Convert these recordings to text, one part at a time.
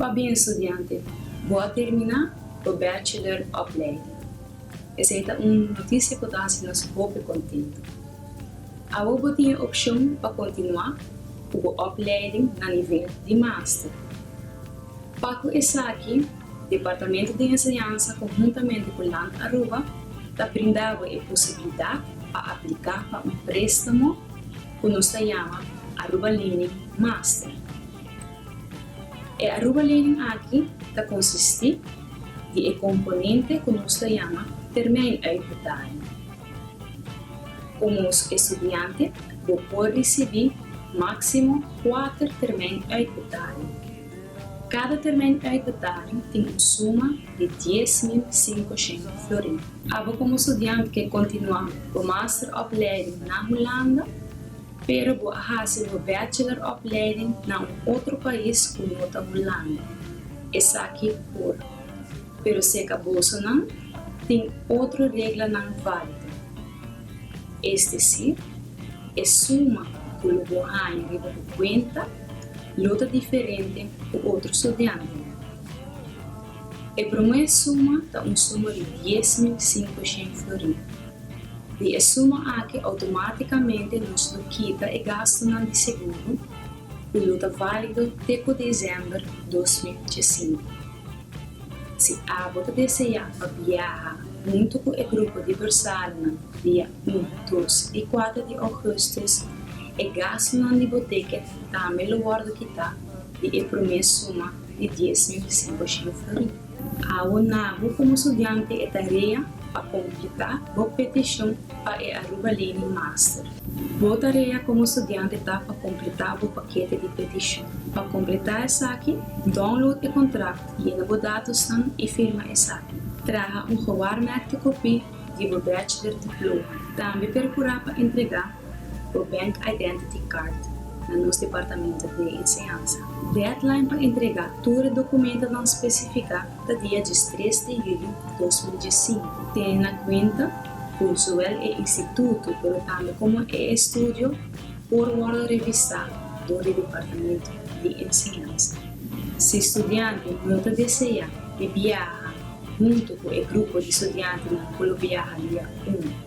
Pa bin studiante, bo a terminá bo bachelor opleiding. Esei ta un notisia ku ta hasi nos hopi kontentu. Awe bo tin e opshon pa kontinuá ku bo opleiding na nivel di master. Pa ku esaki, Departamento di Enseñansa konhuntamente ku Land Aruba ta brinda bo e posibilidat pa apliká pa un préstamo ku nos ta yama Aruba Leaning Master. E Aruba Learning aki ta konsistí di e komponente ku nos ta yama Termijn Uitbetaling. Komo estudiante bo por risibí máksimo kuater Termijn Uitbetaling. Kada Termijn Uitbetaling tin un suma di dies mil sinkoshen florin. Abo komo estudiante ke kontinuá bo master òpleiding na Hulanda. Pero bo a hasi bo bachelor opleiding na un otro pais ku no ta Hulanda. Esaki por. Pero sekabosonan tin otro reglanan válido. Es desir, e suma ku lo bo haña riba bo kuenta lo ta diferente ku otro studiantenan. E promé suma ta un suma di dies mil sinku shen florin. Di e suma aki outomátikamente nos lo kita e gastunan di seguro i lo ta válido te ku desèmber dos mil djesinku. Si abo ta deseá pa biaha huntu ku e grupo di Bersalennan dia un, dos i kuater di ougùstus, e gastunan di bo ticket tambe lo wòrdu kitá di e promé suma. di dies mil di Singor Shinofury. Awo na bo komo studiante e tarea pa kompletá bo petishon pa e Aruba Learning Master. Bo tarea komo studiante ta pa kompletá bo pakete di petishon. Pa kompletá esaki, download e kontrakt, yena bo datosnan i firma esaki. Traha un gewaarmerkte kopí di bo bachelor diploma. Tambe perkurá pa entregá bo Bank Identity Card na nos Departamento di Enseñansa. Deadline pa entrega tur e documentonan specifica ta dia diestres di julio dos mil diescinco. Ten na cuenta cu zowel e instituto pero tambe como e estudio por wordo revisa door di Departamento di Enseñansa. Si studiante no ta desea di biaha hunto cu e grupo di studiantenan cu lo biaha dia un.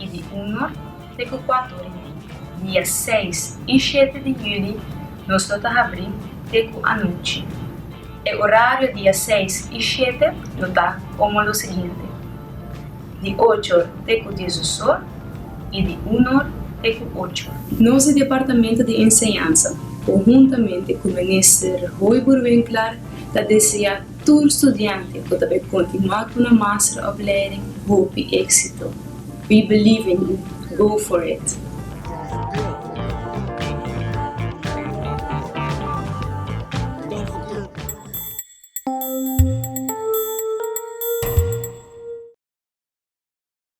i di unu te ku kuatu ora di dia seis i shete di juli nos lo ta habrí te ku anochi. E orario dia seis i shete lo ta komo lo siguiente, di ocho or te ku diesdos or i di unu or te ku ocho or. Nos di Departamento di Enseñansa, konhuntamente ku Minister Roy Boerwinkler, ta deseá Tur studiante cu ta bay continua cu nan master oplering hopi exito. We believe in you. Go for it!